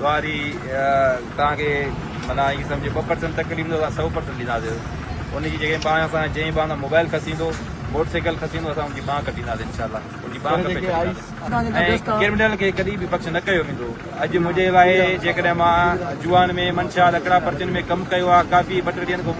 واري توهان کي معنيٰ ائين سمجهو ٻه پرسنٽ تڪليف ڏيندو اسان سؤ پرسنٽ ڏينداسين ان جي جيڪي ٻانهن اسان جنهن ٻانهن تان موبائل کسيندو موٽر سائيڪل کسيندو اسان ان جي ٻانهن ڪٽينداسين انشاء الله ان جي ٻانهن ڪٽي ڇڏينداسين ۽ ڪرمنل کي ڪڏهن به بخش نه ڪيو ويندو اڄ منهنجي لاء جيڪڏهن مان جوان ۾ منشا لڪڙا پرچين ۾ ڪم ڪيو آهي ڪافي ٻه ٽي ڏينهن کان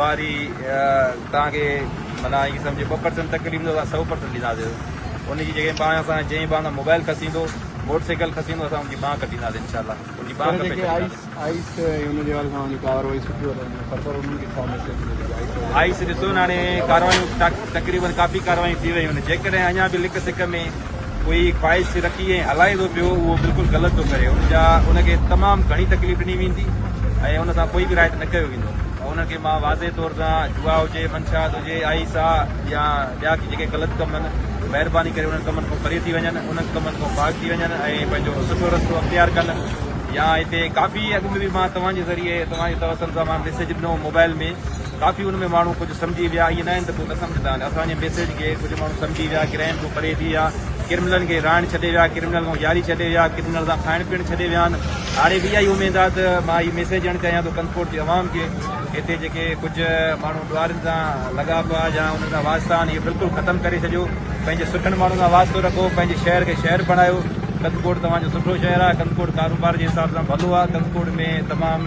واري توهان کي معنيٰ ائين سمجهي ٻه پرسنٽ تڪليف ڏيندو اسان سؤ پرسنٽ ڏينداسين ان جي جيڪي ٻانهن اسان جنهن ٻانهن تان موبائل کسيندو موٽر سائيڪل کسيندو اسان ان جي ٻانهن ڪٽينداسين انشاء الله ان جي ٻانهن ڪپي ڇڏينداسين آئيس ڏسو نا هاڻي ڪارروايون تقريبن ڪافي ڪارروايون ٿي ويون آهن جيڪڏهن اڃا به لڪ سڪ ۾ ڪوئي خواهش کي رکي ۽ هلائي ٿو پيو اهو بلڪل غلط ٿو ڪري ان جا ان کي تمام گهڻي تڪليف ڏني ويندي ۽ ان سان ڪوئي به رائت نه ڪيو ويندو ان کي مان واضح طور سان جوا هجي منشات هجي آئي سا يا ٻيا ڪي جيڪي غلط ڪم آهن مهرباني ڪري انهن ڪمن کان پري ٿي وڃن انهن ڪمن کان پاڪ ٿي وڃن ۽ پنهنجو سٺو رستو اختيار ڪن يا هتي ڪافي اڳ ۾ به مان توهان جي ذريعي توهان جي توسل سان مان ميسيج ڏنو موبائل ۾ ڪافي ان ۾ ماڻهو ڪجهه سمجهي ويا ائين ناهن ته ڪو نه سمجهندا آهن اسان جي ميسيج کي ڪجهه ماڻهو سمجهي ويا گرهن کان پري ٿي ويا ڪرمنلن کي رهائڻ ڇڏي ويا ڪرمنل سان ياري ڇڏي ويا ڪرمنل سان کائڻ پيئڻ ڇڏي ويا آهن هاڻي به اها ئي اميد آهي ته مان هي ميسيج ڏيڻ چاهيان ٿو ڪنٿڪوٽ جي عوام کي هتي جيڪي ڪجهه ماڻهو ڏوهارين سان لڳا پيا يا انهن سان واسطا آهن اهي بلڪل ختم ڪري ڇڏيو پنهنجي سٺن ماڻهن سان واسطو رکو پنهنجي شهر کي شهر بڻايو ڪنٿڪوٽ توهان جو سٺو شهر آهي ڪنٿڪوٽ ڪاروبار جي حساب سان ڀلو آهي ڪنٿڪوٽ ۾ تمام